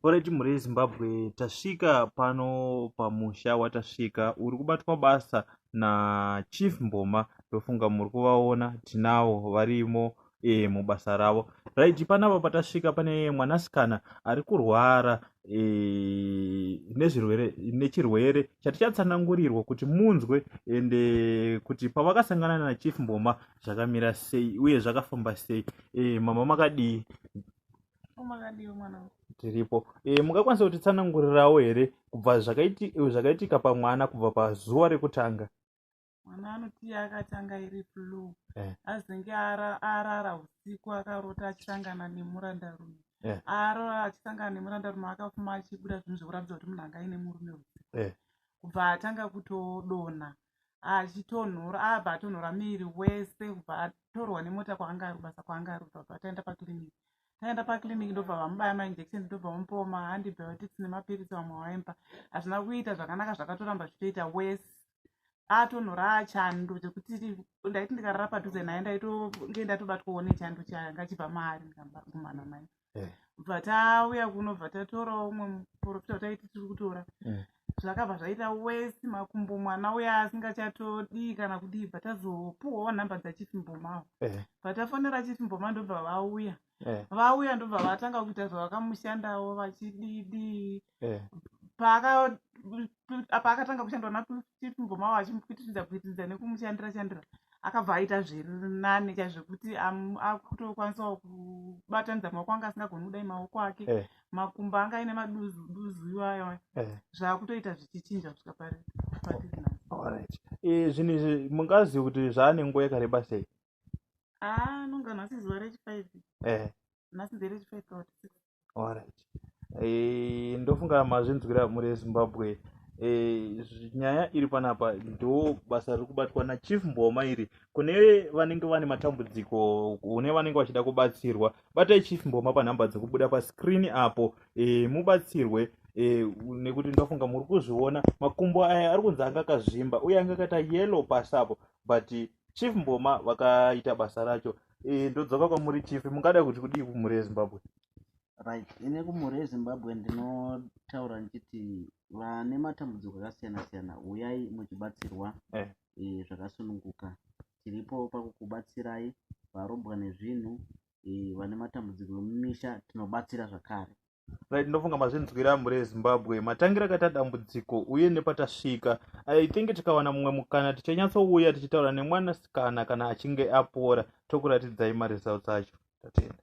Alright mhuri yeZimbabwe tasvika pano pamusha watasvika uri kubatwa basa naChief Mboma ndofunga muri kuvaona tinawo varimo e, mubasa ravo right panapa patasvika pane mwanasikana ari kurwara e, nezvirwere nechirwere chatichatsanangurirwa kuti munzwe ende kuti pavakasangana naChief Mboma zvakamira sei uye zvakafamba sei e, mama makadii tiripo e, mungakwanisa kutitsanangurirawo here kubva zvakaitika pamwana kubva pazuva rekutanga mwana anoti akatanga iri flu eh. azenge arara usiku akarota achisangana nemurandarume eh. arora achisangana nemurandarume akafuma achibuda zvinhu zvekuratidza kuti munhu anga ine murume usiku eh. kubva atanga kutodonha achitonhora abva atonhora miri wese kubva atorwa nemota kwaanga ari kubasa kwaanga ari kubva bva taenda paclinic taenda paclinic ndobva vamubaya mainjection ndobva vamupawo maantibiotics nemapiritsi vamwe vaimba hazvina kuita zvakanaka zvakatoramba zvichitoita wese atonhora achando chekuti ndaiti ndikarara padhuze naye ndaitonge ndatobatwawo nechando changa chibva maari ndikambakumana naye eh. bva tauya kuno bva tatorawo umwe muporofita wataiti tiri kutora eh. zvakabva zvaita wesi makumbo mwana uya asingachatodii kana kudii bva tazopuwawo nhamba dzachief mbomawo eh. bva tafonera chief mboma ndobva vauya vauya ndobva vatanga kuita zvavakamushandawo vachididii eh. paakatanga kushandwa nachief ngomawo achimupitiridza pitiridza nekumushandira shandira akabva aita zvirinane chaizvekuti akutokwanisawo kubatanidza maoko anga asingagoni kudai maoko ake eh. makumbo anga aine maduzu duzu iwayo eh. zvaakutoita zvichichinja kusvika pari eh, zvinhu izvi mungazivi kuti zvaane nguva yakareba sei ah, anongana asi zuva rechifive nhasi nderechifive kaoti six alright eh, ndofunga mazvinzwira mhuri yezimbabwe eh, nyaya iri panapa ndo basa riri kubatwa nachief mboma iri kune vanenge vane matambudziko kune vanenge vachida kubatsirwa batai chief mboma panhamba dzekubuda pascreen apo eh, mubatsirwe eh, nekuti ndofunga muri kuzviona makumbo aya ari kunzi anga akazvimba uye anga akaita yellow pasi apo but chief mboma vakaita basa racho Eh, ndodzoka kwamuri chief mungada kuti kudii kumhuri yezimbabwe right ine kumhuri yezimbabwe ndinotaura ndichiti vane matambudziko akasiyana siyana uyai muchibatsirwa eh. e, zvakasununguka tiripo pakukubatsirai varombwa nezvinhu e, vane matambudziko emumisha tinobatsira zvakare right ndofunga mazvinzwira mhuri yezimbabwe matangira akaita dambudziko uye nepatasvika i think tikawana mumwe mukana tichanyatsouya tichitaura nemwanasikana kana achinge apora tokuratidzai maresults acho tatenda